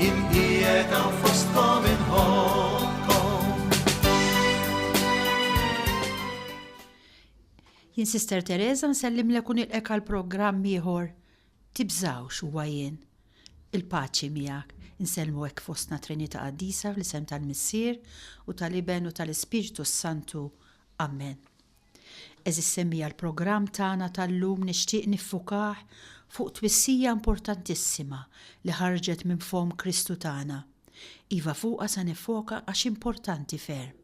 Jien qiegħed hawn fostkom inħobbkom. Jien Sister Teresa nsellimlek u nilqek għal programm ieħor. Tibżawx huwa jien. Il-paċi miegħek. Insellmu hekk fostna Trinità Qaddisa fl-isem tal-Missier u tal-Iben u tal-Ispirtu s-Santu. Amen. Għeżież semmija l-programm tagħna tal-lum nixtieq niffukah fuq twissija importantissima li ħarġet minn fomm Kristu tagħna. Iva fuqha se niffoka għax importanti ferm.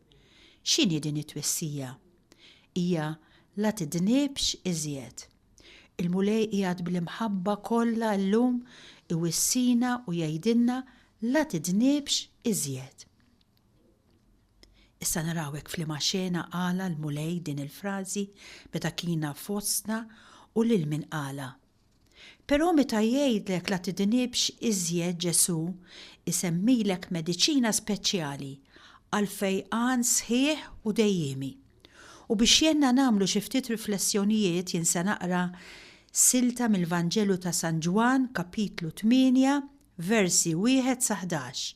X'inhi din it-twissija? Hija La tidnibx iżjed. Il-Mulej qiegħed bl-imħabba kollha llum iwissina u jgħidilna La tidnibx iżjed. Issa naraw hekk f'liema xena qala l-Mulej din il-frażi meta kiena fostna u lil min qalha. Però meta jgħidlek la tidnibx iżjed Ġesù jsemmilek mediċina speċjali għall-fejqan sħiħ u dejjiemi. U biex jgħinna nagħmlu xi ftit riflessjonijiet jien se naqra silta mill-Vanġelu ta' San Ġwann, Kapitlu 8, versi 1 sa 11,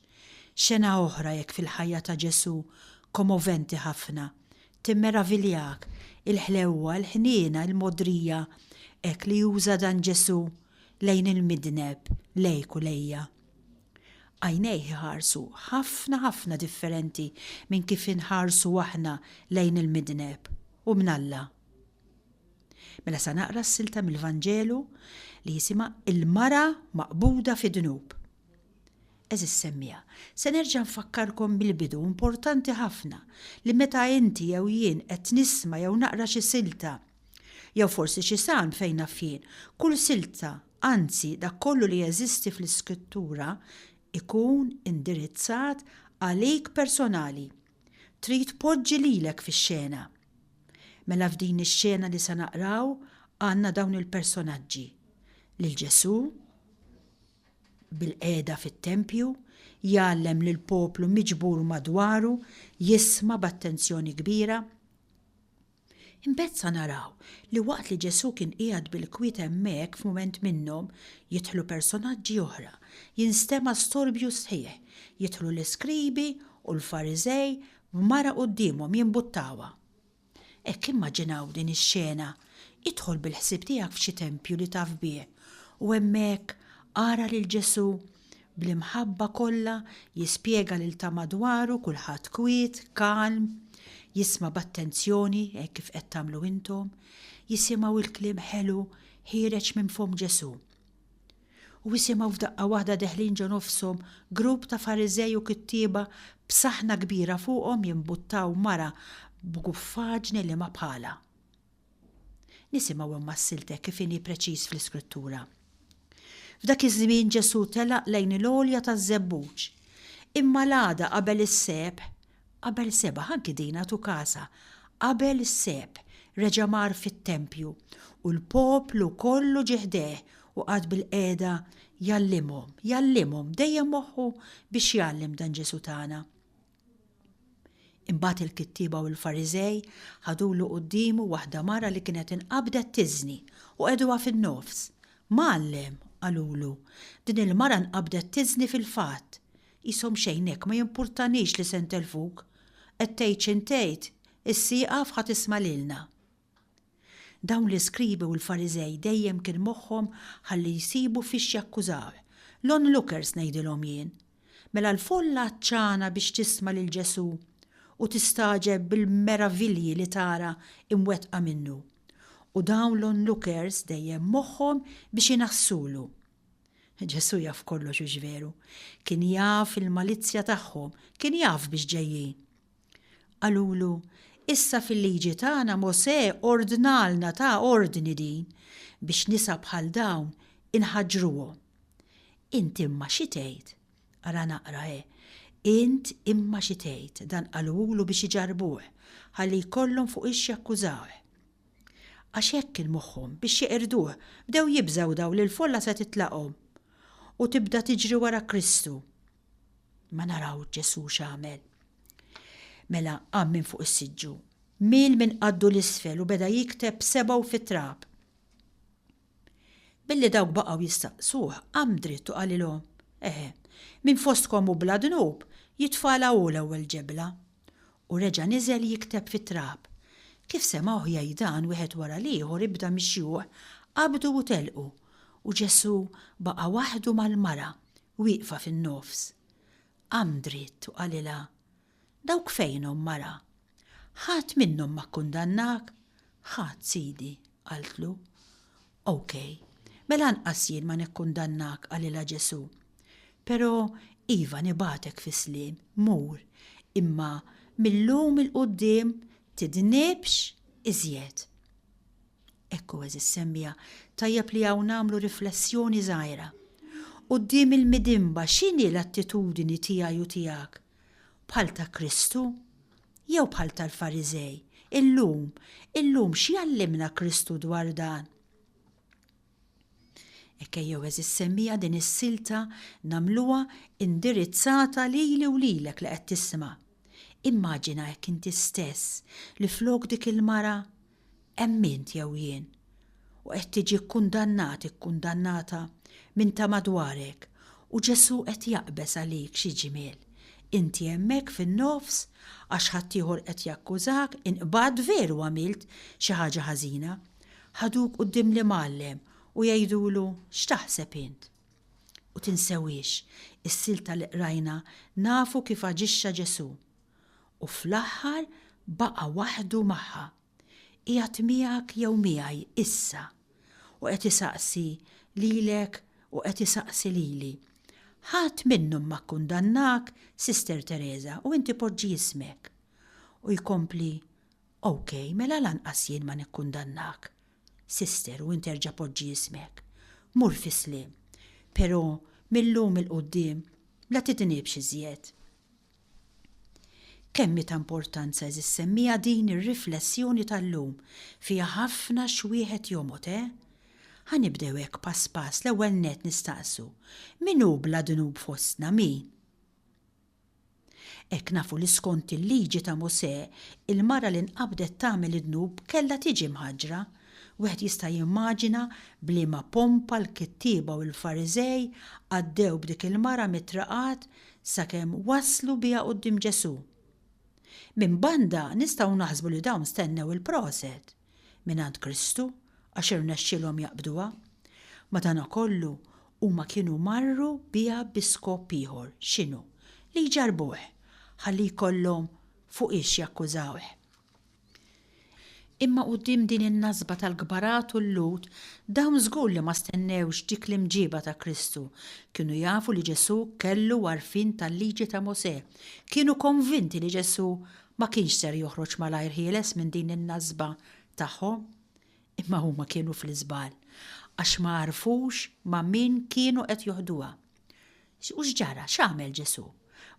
xena oħra jekk fil-ħajja ta' Ġesù komoventi ħafna, timmeraviljak, il-ħlewwa, il-ħniena, il-mogħdrija hekk li juża dan Ġesù lejn il-midneb, lejk u lejja. Għajnejh iħarsu ħafna ħafna differenti minn kif inħarsu aħna lejn il-midneb, u mnalla. Mela sa naqra s-silta mill-Vanġelu li jisimha Il-Mara Maqbuda fid-Dnub. Għeżież semmiegħa, se nerġa' nfakkarkom bil-bidu importanti ħafna li meta inti jew jien qed nisma' jew naqra xi silta, jew forsi xi salm fejn naf jien, kull silta, anzi dak kollu li jeżisti fl-Iskrittura, ikun indirizzat għalik personali. Trid tpoġġi lilek fix-xena. Mela f'din ix-xena li se naqraw għandna dawn il-personaġġi, lil Ġesù bilqiegħda fit-tempju, jgħallem lill-poplu miġbur madwaru, jisma' b'attenzjoni kbira, Imbagħad sa naraw li waqt li Ġesù kien qiegħed bil-kwiet hemmhekk f'mument minnhom, jidħlu personaġġi oħra, jinstema' storbju sħiħ, jidħlu l-iskribi u l-Fariżej b'mara quddiemhom jimbuttawha. Hekk immaġinaw din ix-xena, idħol bil-ħsieb tiegħek f'xi tempju li taf bih u hemmhekk ara lil Ġesù bl-imħabba kollha jispjega lil ta' madwaru kulħadd kwiet, kalm, jisma' b'attenzjoni hekk kif qed tagħmlu intom, jisimgħu l-kliem ħelu ħiereġ minn fomm Ġesù. U isimgħu f'daqqa waħda deħlin ġo nofshom grupp ta' Fariżej u kittieba b'saħna kbira fuqhom jimbuttaw mara b'guffaġni li ma bħalha. Nisimgħu imwassiltek kif inhi preċiż fl-Iskrittura. F'dak iż-żmien Ġesù telaq lejn il-għolja taż-żebbuġ. Imma l-għada qabel is-sebħ, qabel sebgħa anki din għad hu każha, qabel is-sebħ reġa' mar fit-tempju u l-poplu kollu ġie ħdejh u qagħad bilqiegħda jgħallimhom, jgħallimhom, dejjem moħħu biex jgħallem dan Ġesù tagħna. Imbagħad il-kittieba u l-Fariżej ħadulu quddiemu waħda mara li kienet inqabdet tiżni, u qegħduha fin-nofs. Mgħallem, qalulu, din il-mara nqabdet tiżni fil-fatt. Qishom xejn hekk, ma jimpurtanix li se ntelfuk. Qed tgħid x'int tgħid, issa ieqaf ħa tisma' lilna. Dawn l-iskribi u l-Fariżej dejjem kien moħħhom ħalli jsibu fiex jakkużawh. L-onlookers ngħidilhom jien. Mela l-folla għatxana biex tisma' lil Ġesù u tistagħġeb bil-meravilji li tara imwettqa minnu. U dawn l-onlookers dejjem moħħhom biex inaħħsulu. Ġesù jaf kollox hux veru. Kien jaf il-malizzja tagħhom, kien jaf biex ġejjin. Qalulu, Issa fil-Liġi tagħna Mosè ordnalna, ta ordni din, biex nisa bħal dawn inħaġġruhom. Int imma xi tgħid? Ara naqra he, Int imma xi tgħid, dan qalulu biex iġarrbuh, ħalli jkollhom fuq ix jakkużawh. Għax hekk kien moħħhom, biex jeqirduh, bdew jibżgħu dawn li l-folla se titlaqhom u tibda tiġri wara Kristu. Ma naraw Ġesu x'għamel. Mela qam minn fuq is-siġġu, miel minn qaddu 'l isfel u beda jikteb b'sebgħu fit-trab. Billi dawk baqgħu jistaqsuh, qam dritt u qalilhom, Eh, min fostkom hu bla dnub, jitfagħla hu l-ewwel ġebla. U reġa' niżel jikteb fit-trab. Kif semgħuh jgħid dan, wieħed wara l-ieħor ibda mix-xjuħ qabdu u telqu, u Ġesu baqa' waħdu mal-mara. wieqfa fin-nofs. Qam dritt u qalilha, Dawk fejnhom, mara? Ħadd minnhom ma kkundannak? Ħadd, Sidi, qaltlu. OK, mela anqas jien ma nikkundannak, qalilha Ġesù. Però, iva nibgħatek fis-sliem, mur, imma mil-lum 'il quddiem tidnibx iżjed. Hekk hu għeżież semmiegħa, tajjeb li hawn nagħmlu riflessjoni żgħira. Quddiem il-midinba x'inhi l-attitudini tiegħi u tiegħek? Bħal ta' Kristu? Jew bħal tal-Fariżej? Illum, illum x'jgħallimna Kristu dwar dan? Hekk ejjew għeżież semmiegħa din is-silta nagħmluha indirizzata lili u lilek li qed tisma'. Immaġina hekk inti stess li flok dik il-mara hemm int jew jien u qed tiġi kkundannat, ikkundannata minn ta' madwarek u Ġesù qed jaqbeż għalik xi ġmiel. Inti hemmhekk fin-nofs għax ħaddieħor qed jakkużak, inqbadt veru għamilt xi ħaġa ħażina, Ħaduk quddiem l-imgħallem u jgħidulu, X'taħseb int? U tinsewiex, is-silta li qrajna nafu kif aġixxa Ġesù. U fl-aħħar baqa' waħdu magħha. Qiegħed miegħek jew miegħi issa. U qed isaqsi lilek u qed isaqsi lili. Ħadd minnhom ma kkundannak, Sister Teresa, u inti poġġi ismek. U jkompli, OK, mela lanqas jien ma nikkundannak. Sister, u int erġa' poġġi jismek. Mur fis-sliem. Però, mil-lum 'il quddiem, la tidnibx iżjed. Kemm hi ta' importanza, għeżież semmiegħa din ir-riflessjoni tal-lum. Fiha ħafna x'wieħed jomgħod, eh? Ħa nibdew hekk pass pass, l-ewwel nett nistaqsu, min hu bla dnub fostna, min? Hekk nafu li skont il-Liġi ta' Mosè, il-mara li nqabdet tagħmel id-dnub kellha tiġi mħaġġra. Wieħed jista' jimmaġina b'liema pompa l-kittieba u l-Fariżej għaddew b'dik il-mara mit-triqat sakemm waslu biha quddiem Ġesù. Minn banda nistgħu naħsbu li dawn stennew il-proset. mingħand Kristu għax irnexxielhom jaqbduha. Madankollu, huma kienu marru biha bi skop ieħor, x'inhu? Li jġarrbuh, ħalli jkollhom fuqiex jakkużawh. Imma quddiem din in-nasba tal-kbarat u l-Lhud, dawn żgur li ma stennewx dik l-imġieba ta' Kristu. Kienu jafu li Ġesù kellu għarfien tal-Liġi ta' Mosè. Kienu konvinti li Ġesù ma kienx ser joħroġ malajr ħieles minn din in-nasba tagħhom. Imma huma kienu fl-iżball, għax ma għarfux ma' min kienu qed joħduha. U x'ġara, x'għamel Ġesù?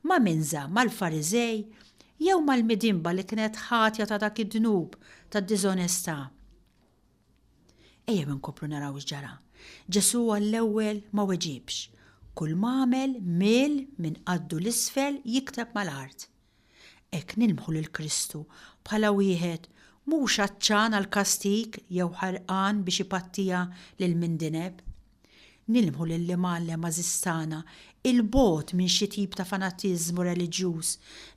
Ma' min żamm, mal-Fariżej jew mal-midinba li kienet ħatja ta' dak id-dnub tad-diżonestà? Ejjew inkomplu naraw x'ġara. Ġesù għall-ewwel ma weġibx. Kulma għamel mill minn qaddu 'l isfel jikteb mal-art. Hekk nilmħu lil Kristu bħala wieħed mhux għatxan għall-kastig jew ħerqan biex ipattija lil min dineb. Nilmħu lill-Imgħallem għażiż tagħna 'il bogħod minn xi tip ta' fanatiżmu reliġjuż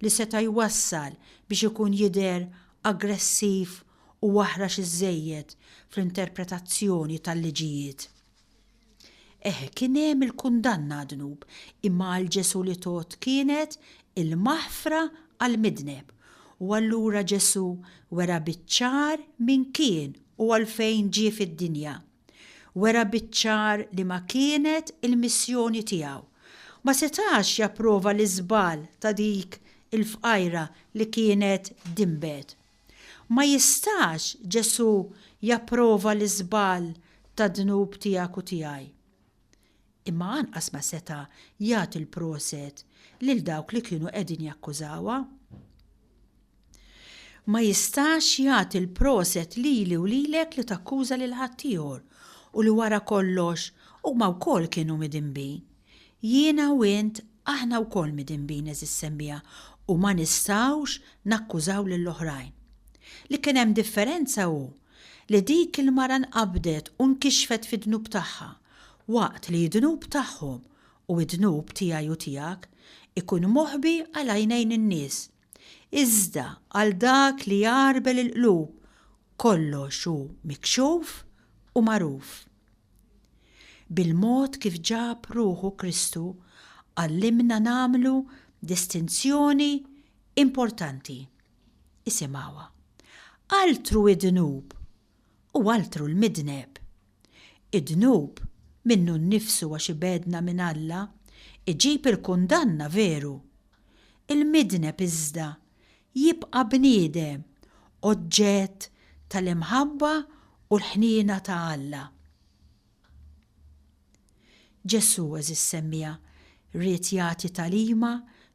li seta' jwassal biex ikun jidher aggressiv u aħrax iżżejjed fl-interpretazzjoni tal-liġijiet. Eh, kien hemm il-kundanna għad-dnub, imma għal Ġesù li tgħodd kienet il-maħfra għall-midneb. U allura Ġesù wera biċ-ċar min kien u għalfejn ġie fid-dinja. Wera biċ-ċar li ma kienet il-missjoni tiegħu. Ma setax japprova l-iżball ta' dik il-fqajra li kienet dinbet. Ma jistax Ġesù japprova l-iżball tad-dnub tiegħek u tiegħi. Imma anqas ma seta' jagħti l-proset lil dawk li kienu qegħdin jakkużawha. Ma jistax jagħti l-proset lili u lilek li takkuża lil ħaddieħor u li wara kollox huma wkoll kienu midinbin. Jiena u int, aħna wkoll midinbin, għeżież semmiegħa, u ma nistgħux nakkużaw lill-oħrajn. Li kien hemm differenza hu li dik il-mara nqabdet u nkixfet fid-dnub tagħha, waqt li d-dnub tagħhom, u d-dnub tiegħi u tiegħek, ikun moħbi għal għajnejn in-nies. Iżda għal dak li jgħarbel il-qlub kollox hu mikxuf u magħruf. Bil-mod kif ġab ruħu Kristu għallimna nagħmlu distinzjoni importanti. Isimgħuha. Altru id-dnub u altru l-midneb. Id-dnub, minnu nnifsu għax ibegħdna minn Alla, iġib il-kundanna veru. Il-midneb iżda jibqa' bniedem oġġett tal-imħabba u l-ħniena ta' Alla. Ġesù, għeżież semmiegħa, ried jagħti tagħlima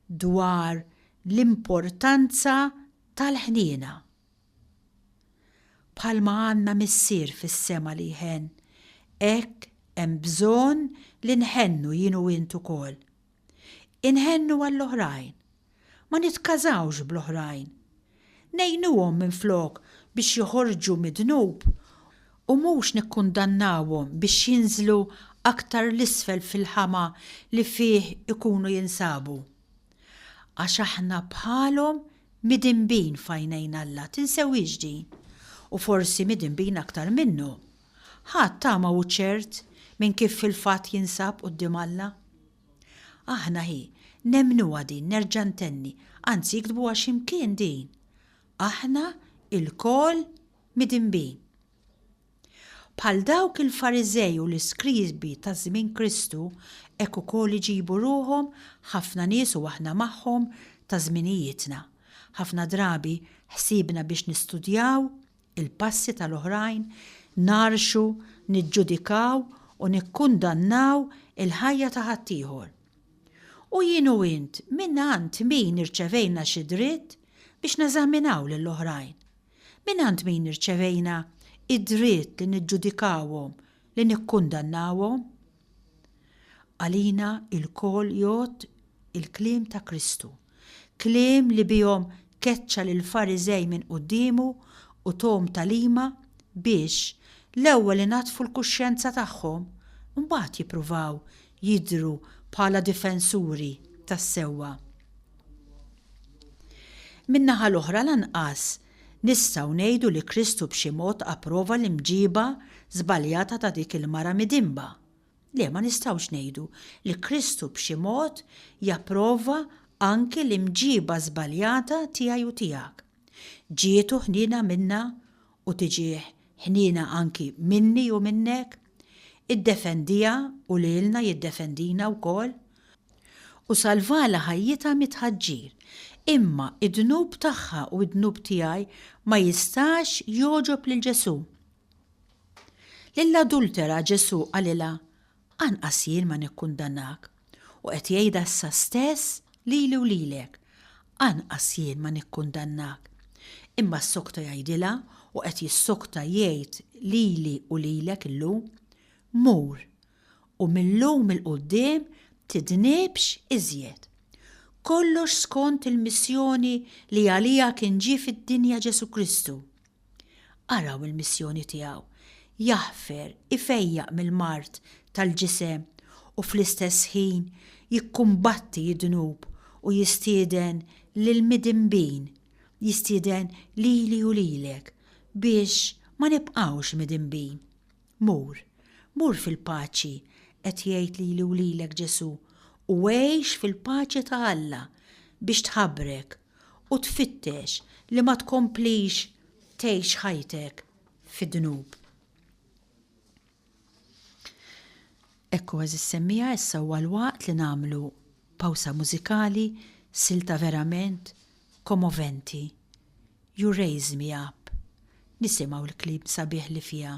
dwar l-importanza tal-ħniena. Bħalma għandna Missier fis-sema li jħenn, hekk hemm bżonn li nħennu jien u int ukoll. Inħennu għall-oħrajn. Ma nitkażawx bl-oħrajn. Ngħinuhom minflok biex joħorġu mid-dnub u mhux nikkundannawhom biex jinżlu aktar 'l isfel fil-ħama li fih ikunu jinsabu. Għax aħna bħalhom midinbin f'għajnejn Alla, tinsewhiex din, u forsi midinbin aktar minnu. Ħa t-tama hu ċert min kif fil-fatt jinsab quddiem Alla. Aħna hi, nemmnuha din, nerġa' ntenni, anzi iktbuha xi mkien din, Aħna lkoll midinbin. Bħal dawk il-Fariżej u l-iskribi ta' żmien Kristu, hekk ukoll iġibu ruħhom ħafna nies u aħna magħhom ta' żminijietna. Ħafna drabi ħsiebna biex nistudjaw il-passi tal-oħrajn, ngħarrxu, niġġudikaw u nikkundannaw il-ħajja ta' ħaddieħor. U jien u int mingħand min irċevejna xi dritt biex neżaminaw lill-oħrajn? Mingħand min irċevejna d-dritt li niġġudikawhom, li nikkundannawhom? Għalina lkoll jgħodd il-kliem ta' Kristu, kliem li bihom keċċa lill-Fariżej minn quddiemu u thom tagħlima biex l-ewwel inaddfu l-kuxjenza tagħhom, imbagħad jippruvaw jidhru bħala difensuri tas-sewwa. Min-naħa l-oħra lanqas nistgħu ngħidu li Kristu b'xi mod approva l-imġiba żbaljata ta' dik il-mara midinba. Le, ma nistgħux ngħidu li Kristu b'xi mod japprova anki l-imġiba żbaljata tiegħi u tiegħek. Ġietu ħniena minna u tiġih ħniena anki minni u minnek, iddefendiha u lilna jiddefendina wkoll, u salvalha ħajjitha mit-tħaġġir, imma d-dnub tagħha u d-dnub tiegħi ma jistax jogħġob lil Ġesù. Lill-adultera Ġesù qalilha, Anqas jien ma nikkundannak, u qed jgħidha issa stess lili u lilek, anqas jien ma nikkundannak. Imma ssokta jgħidilha, u qed jissokta jgħid lili u lilek illum, Mur, u mil-lum 'il quddiem tidnibx iżjed. Kollox skont il-missjoni li għaliha kien ġie fid-dinja Ġesù Kristu, Araw il-missjoni tiegħu, jaħfer, ifejjaq mill-mard tal-ġisem u fl-istess ħin jikkumbatti d-dnub u jistieden lill-midinbin, jistieden lili u lilek biex ma nibqgħux midinbin. Mur, mur fil-paċi, qed jgħid lili u lilek Ġesù, u għix fil-paċi ta' Alla biex tħabrek. u tfittex li ma tkomplix tgħix ħajtek fid-dnub. Ekku għażiż semmiegħa issa huwa l-waqt li nagħmlu pawsa mużikali, silta verament komoventi, You Raise Me Up, nisimgħu l-kliem sabiħ li fiha.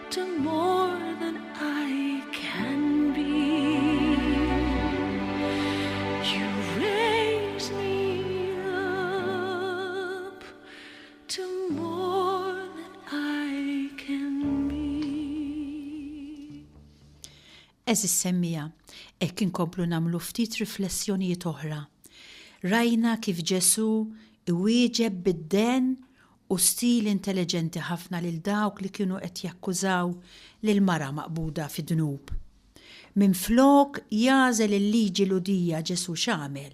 Eżis semmija, hekk inkomplu nagħmlu ftit riflessjonijiet oħra. Rajna kif Ġesù iwieġeb bid-den u stil intelliġenti ħafna lil dawk li kienu qed jakkużaw lil mara maqbuda fi dnub. Minflok jagħżel il-liġi Lhudija Ġesù x'għamel?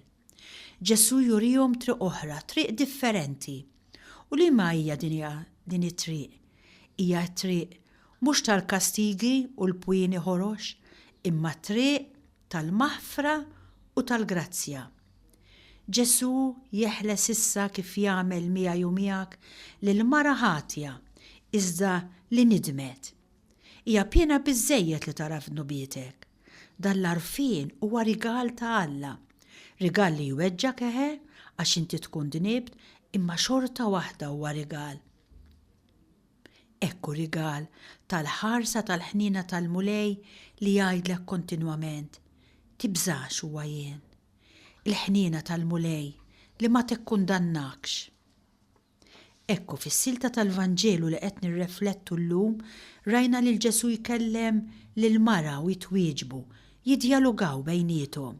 Ġesù jurihom triq oħra, triq differenti. U liema hija din it-triq? Hija t-triq mhux tal-kastigi u l-pwieni ħorox, imma t-triq tal-maħfra u tal-grazzja. Ġesù jeħles issa kif jagħmel miegħi u miegħek lil mara ħatja iżda li nidmet. Hija piena biżżejjed li tagħraf dnubietek. Dan l-għarfien huwa rigal ta' Alla. Rigal li jweġġgħek eħe għax inti tkun dnibt imma xorta waħda huwa rigal. Hekk hu rigal tal-ħarsa tal-ħniena tal-Mulej li jgħidlek kontinwament, Tibżax huwa jien. Il-ħniena tal-Mulej li ma tikkundannakx. Hekk hu fis-silta tal-Vanġelu li qed nirreflettu llum rajna lil Ġesù jkellem lill-mara u jitwieġbu, jiddjalugaw bejniethom.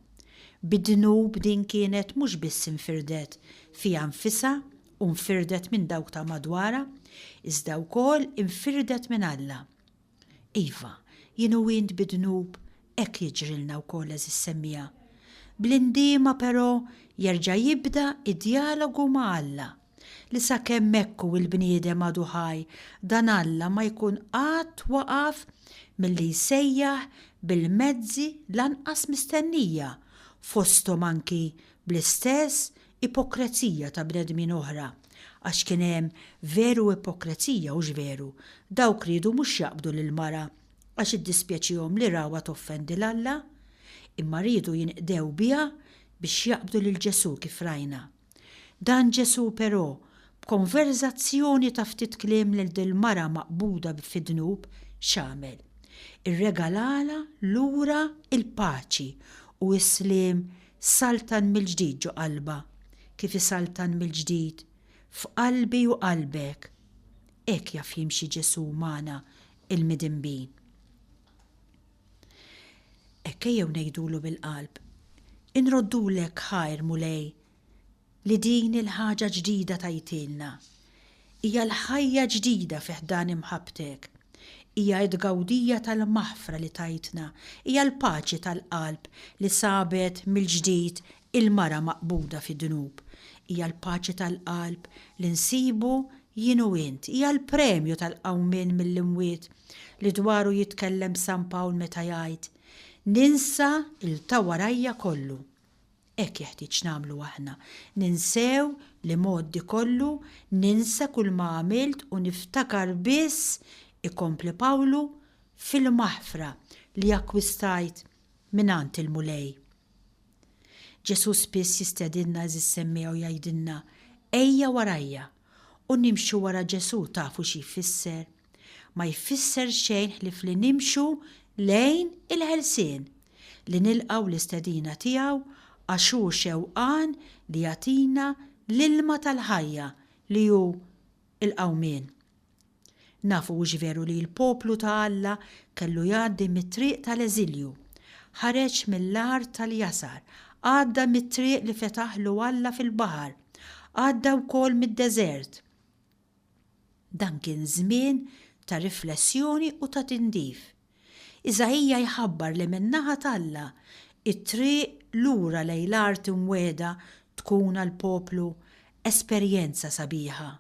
Bid-dnub din kienet mhux biss infirdet fiha nfisha u nfirdet minn dawk ta' madwarha, iżda wkoll infirdet minn Alla. Iva, jien u int bi dnub hekk jiġrilna wkoll għeżież semmiegħa. Bl-indiema però jerġa' jibda d-djalogu ma' Alla, li sakemm hekk hu l-bniedem għadu ħaj dan Alla ma jkun qatt waqaf milli jsejjaħ bil-mezzi l-anqas mistennija fosthom anki bl-istess ipokrezija ta' bnedmin oħra, għax kien hemm veru ipokrezija, hux veru? Dawk riedu mhux jaqbdu lill-mara għax iddispjaċihom li rawha toffendi 'l Alla, imma riedu jinqdew biha biex jaqbdu lil Ġesù kif rajna. Dan Ġesù però, b'konverżazzjoni ta' ftit kliem lil dil-mara maqbuda fid-dnub, x'għamel? Irregalalha lura l-paċi u s-sliem Saltan mill-ġdid ġo qalbha, kif isaltan mill-ġdid f'qalbi u qalbek. Hekk jaf jimxi Ġesù magħna l-midinbin. Hekk ejjew ngħidulu bil-qalb, Inroddulek ħajr, Mulej, li din il-ħaġa ġdida tajtilna. Hija l-ħajja ġdida fi ħdan imħabbtek. Hija t-tgawdija tal-maħfra li tajtna. Hija l-paċi tal-qalb li sabet mill-ġdid il-mara maqbuda fid-dnub. Hija l-paċi tal-qalb li nsibu jien u int. Hija l-premju tal-qawmien mill-imwiet li dwaru jitkellem San Pawl meta jgħid, Ninsa 'l ta' warajja kollu. Hekk jeħtieġ nagħmlu aħna. Ninsew li mgħoddi kollu, ninsa kulma għamilt u niftakar biss, ikompli Pawlu, fil-maħfra li akkwistajt mingħand il-Mulej. Ġesù spiss jistedinna għeżież semmiegħa u jgħidilna, Ejja warajja! U nimxu wara Ġesù tafu xi jfisser? ma jfisser xejn ħlief li nimxu lejn il-ħelsien, li nilqgħu l-istedina tiegħu għax hu xewqan li jagħtina l-ilma tal-ħajja li hu l-qawmien. Nafu hux veru li l-poplu ta' Alla kellu jgħaddi mit-triq tal-eżilju. Ħareġ mill-art tal-jasar, għadda mit-triq li fetaħlu Alla fil-baħar, għadda wkoll mid-deżert. Dan kien żmien ta' riflessjoni u ta' tindif. Iżaija jħabbar li min-naħa t'Alla, it-triq lura lejn l-art imwiegħda tkun għall-poplu esperjenza sabiħa,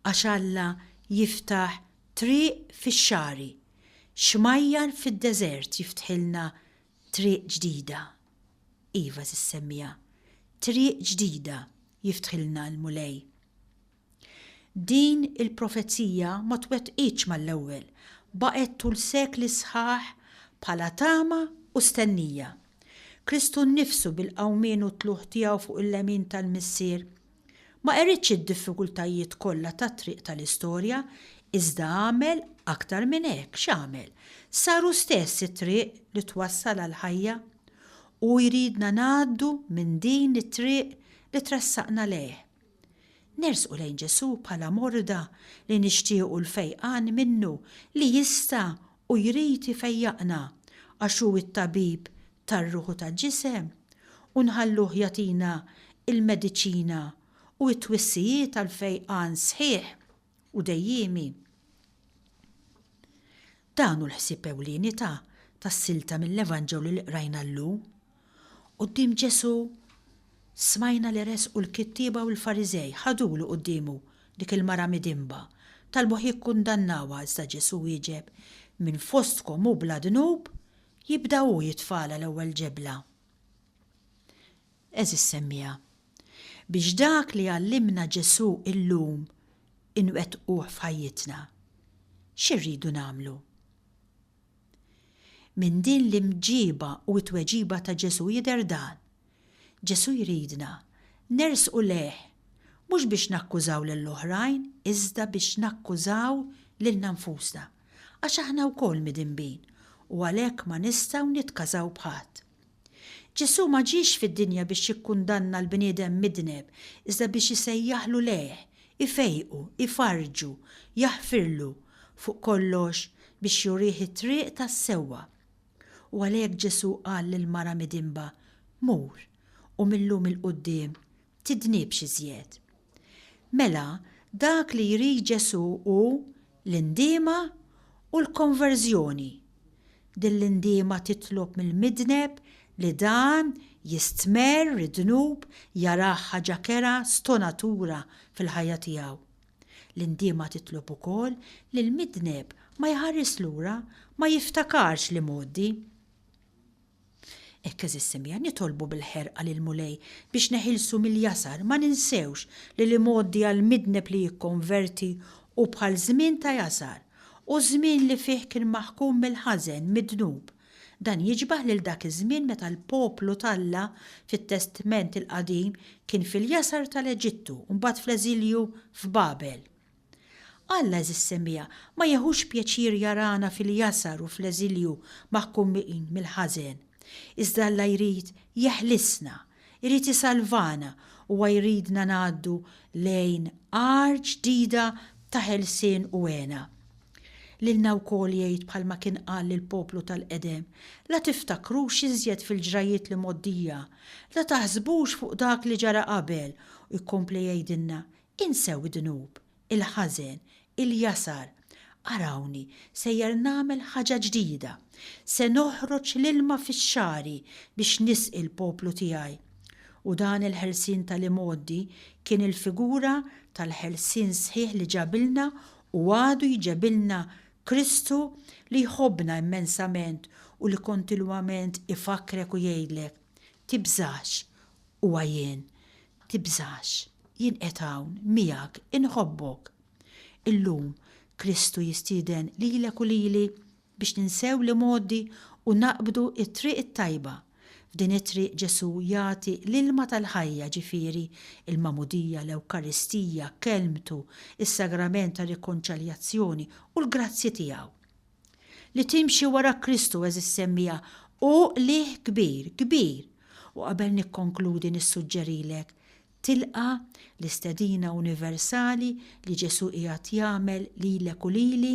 għax Alla jiftaħ triq fix-xagħri, xmajjar fid-deżert jiftħilna triq ġdida. Iva, żiż semmiha, triq ġdida jiftħilna l-Mulej. Din il-profezija ma twettqitx mal-ewwel, baqgħet tul sekli sħaħ bħala tama u stennija. Kristu nnifsu bil-qawmien u t-tlugħ tiegħu fuq il-lemin tal-Missier, ma qeridx id-diffikultajiet kollha tat-triq tal-istorja, iżda għamel aktar minn hekk. X'għamel? Sar hu stess it-triq li twassal għall-ħajja. Hu jridna ngħaddu minn din it-triq li tressaqna lejh. Nersqu lejn Ġesù bħala morda li nixtiequ l-fejqan minnu li jista' u jrid ifejjaqna għax hu t-Tabib tar-ruħ u tal-ġisem u nħalluh jagħtina l-mediċina u t-twissijiet għall-fejqan sħiħ. u dejjiemi. Dan hu l-ħsieb ewlieni ta' tas-silta mill-Evanġelju li qrajna llum. Quddiem Ġesù smajna li resqu l-kittieba u l-Fariżej, ħadulu quddiemu dik il-mara midinba, talbuh jikkundannawha iżda Ġesù wieġeb, Min fostkom hu bla dnub, jibda hu jitfagħalha l-ewwel ġebla. Għeżież semmiegħa. Biex dak li għallimna Ġesù illum inwettquh f'ħajjitna, xi rridu nagħmlu? Minn din l-imġiba u t-tweġiba ta' Ġesù jidher dan, Ġesù jridna nersqu lejh mhux biex nakkużaw lill-oħrajn iżda biex nakkużaw lilna nfusna, għax aħna wkoll midinbin u għalhekk ma nistgħu nitkażaw b'ħadd. Ġesù ma ġiex fid-dinja biex jikkundanna l-bniedem midneb, iżda biex isejjaħlu lejh, ifejqu, ifarrġu, jaħfirlu, fuq kollox, biex jurih it-triq tas-sewwa. U għalhekk Ġesù qal lill-mara midinba, Mur, u mil-lum 'il quddiem tidnibx iżjed. Mela, dak li jrid Ġesù hu l-indiema u l-konverżjoni. Din l-indiema titlob mill-midneb li dan jistmerr id-dnub jarah ħaġa kerha stonatura fil-ħajja tiegħu. L-indiema titlob ukoll li l-midneb ma jħaris lura, ma jiftakarx l-imgħoddi. Hekk għeżież Simja nitolbu bil-ħerqa lill-Mulej biex neħilsu mill-jasar, ma ninsewx li l-imgħoddi għall-midneb li jikkonverti hu bħal żmien ta' jasar, hu żmien li fih kien maħkum mill-ħażen, mid-dnub. Dan jiġbaħ lil dak iż-żmien meta l-poplu t'Alla fit-Testment il-Qadim kien fil-jasar tal-Eġittu u mbagħad fl-eżilju f'Babel. Alla, għeżież semmiegħa, ma jeħux pjaċir jarana fil-jasar u fl-eżilju maħkumin mill-ħażen. Iżda Alla jrid jeħlisna. Irid isalvana. Huwa jridna ngħaddu lejn għar ġdida ta' ħelsien u hena. Lilna wkoll jgħid bħalma kien qal lill-poplu tal-qedem, La tiftakrux iżjed fil-ġrajjiet li mgħoddija, la taħsbux fuq dak li ġara qabel, u jkompli jgħidilna, Insew id-dnub, il-ħażen, il-jasar. Arawni sejjer nagħmel ħaġa ġdida. Se noħroġ l-ilma fix-xagħri biex nisqi l-poplu tiegħi. U dan il-ħelsien tal-imgħoddi kien il-figura tal-ħelsien sħiħ li ġabilna u għadu jġebilna Kristu li jħobbna immensament u li kontinwament ifakkrek u jgħidlek, Tibżax, Huwa jien. Tibżax. Jien qiegħed hawn, miegħek, inħobbok. Illum, Kristu jistieden lilek u lili biex ninsew l-imgħoddi u naqbdu t-triq it-tajba. F'din it-triq Ġesù jagħti l-ilma tal-ħajja, ġifieri, il-Magħmudija, l-Ewkaristija, Kelmtu, is-Sagrament tar-Rikonċaljazzjoni u l-grazzji tiegħu. Li timxi wara Kristu, għeżież semmiegħa, hu qligħ kbir, kbir! U qabel nikkonkludi nissuġġerilek, tilqa' l-istedina universali li Ġesù qiegħed jagħmel lilek u lili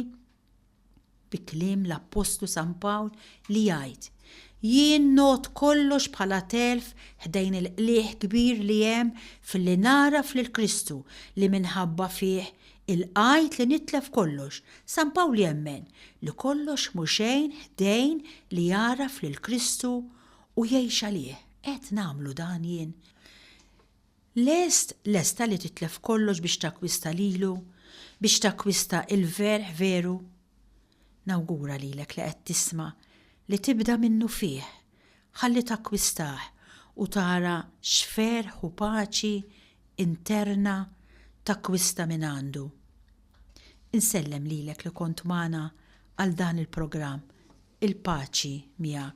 bi kliem l-appostlu San Pawl li jgħid, Jien ngħodd kollox bħala telf ħdejn il-qligħ kbir li hemm filli nagħraf lil Kristu li minħabba fih Il-qgħid li nitlef kollox, San Pawl jemmen li kollox mhu xejn ħdejn li jagħraf lil Kristu u jgħix għalih. Qed nagħmlu dan jien? Lest, lesta li titlef kollox biex takkwista lilu, biex takkwista il-verħ veru? Nawgura lilek li qed tisma' li tibda minnufih, Ħalli takkwistah u tara x'ferħ u paċi interna takkwista mingħandu. Insellem lilek li kont magħna għal dan il-programm, il-paċi miegħek.